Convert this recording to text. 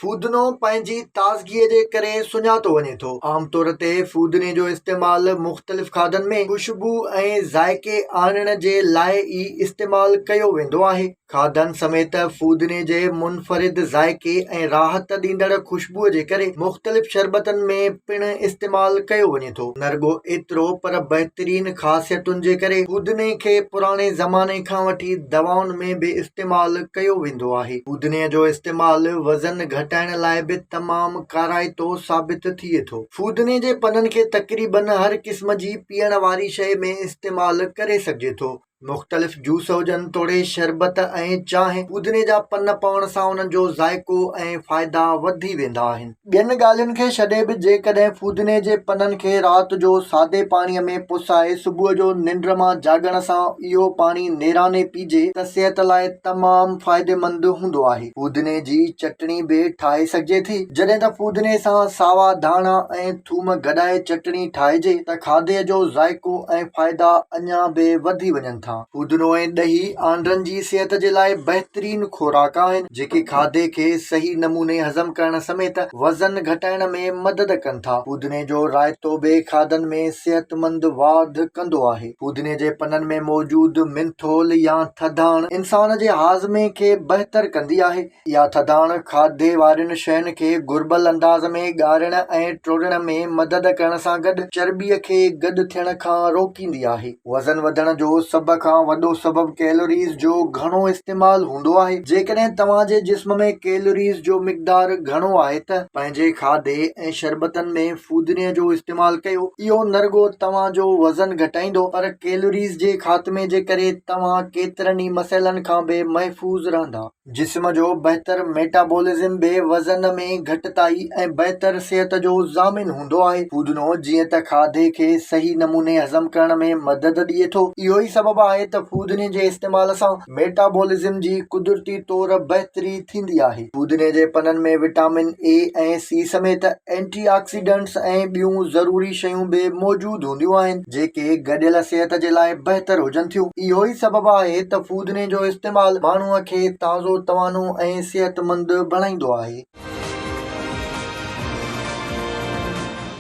فودنو پنهنجي تازگيء جي ڪري سڃاتو وڃي ٿو. عام طور تي فودني جو استعمال مختلف کاڌن ۾ خوشبوء ۽ ذائقي آڻڻ جي لاء ئي استعمال ڪيو ويندو آهي. کاڌن سميت فودني جي منفرد ذائقي ۽ راحت ڏيندڙ خوشبوء جي ڪري مختلف شربتن ۾ پڻ استعمال ڪيو وڃي ٿو. سگهي ٿو، نه رڳو ايترو پر بهترين خاصيتن جي ڪري پودني کي پراڻي زماني کان وٺي دوائن ۾ به استعمال ڪيو ويندو آهي. پودني جو استعمال وزن گهٽائڻ لاء به تمام ڪارائتو ثابت ٿئي ٿو. پودني جي پنن کي تقريبن هر قسم جي پيئڻ واري شيء ۾ استعمال ڪري سگهجي ٿو. مختلف جوس هجن توڙي شربت ۽ چانهه، پودني جا پن پوڻ سان انهن جو ذائقو ۽ فائدا وڌي ويندا آهن. ٻين ڳالهين کي ڇڏي به جيڪڏهن پودني جي پنن کي رات جو سادي پاڻي ۾ پسائي صبح جو ننڊ مان جاڳڻ سان اهو پاڻي نيراني پيجي ته صحت لاء تمام فائديمند هوندو آهي. پودني جي چٽڻي به ٺاهي سگهجي ٿي. جڏهن ته پودني سان ساوا ڌاڻا ۽ ٿوم گڏائي چٽڻي ٺاهجي ته کاڌي جو ذائقو ۽ فائدا اڃا به وڌي وڃن ٿا. پودنو ۽ ڏهي آنڊرن جي صحت جي لاء بهترين خوراڪ آهن، جيڪي کاڌي کي صحيح نموني هضم ڪرڻ سميت وزن گهٽائڻ ۾ مدد ڪن ٿا. پودني جو رائتو به کاڌن ۾ صحتمند واڌ ڪندو آهي. پودني جي پنن ۾ موجود منٿول يا ٿڌاڻ انسان جي هاضمي کي بهتر ڪندي آهي. اها ٿڌاڻ کاڌي وارين شين کي گهربل انداز ۾ ڳارڻ ۽ ٽوڙڻ ۾ مدد ڪرڻ سان گڏ چرٻيء کي گڏ ٿيڻ کان روڪيندي آهي. وزن وڌڻ جو سڀ کان وڏو سبب ڪيلوريز جو گهڻو استعمال هوندو آهي. جيڪڏهن توهان جي جسم ۾ ڪيلوريز جو مقدار گهڻو آهي ته پنهنجي کاڌي ۽ شربتن ۾ فودني جو استعمال ڪيو. اهو نه رڳو توهان جو وزن گهٽائيندو پر ڪيلوريز جي خاتمي جي ڪري توهان ڪيترن ئي مسئلن کان به محفوظ رهندا. جسم جو بهتر ميٽابولزم به وزن ۾ گهٽتائي ۽ بهتر صحت جو ضامن هوندو آهي. فودنو جيئن ته کاڌي کي صحيح نموني هضم ڪرڻ ۾ مدد ڏئي ٿو، اهو ئي سبب آهي ته فودني جي استعمال سان ميٽابولزم جي قدرتي طور بهتري ٿيندي آهي. فودني جي پنن ۾ وٽامن اي ۽ سي سميت اينٽي آڪسيڊنٽس ۽ ٻيون ضروري شيون به موجود هونديون آهن، جيڪي گڏيل صحت جي لاء بهتر هجن ٿيون. اهو ئي سبب آهي ته فودني جو استعمال ماڻهوء کي تازو، توانو ۽ صحتمند بڻائيندو آهي.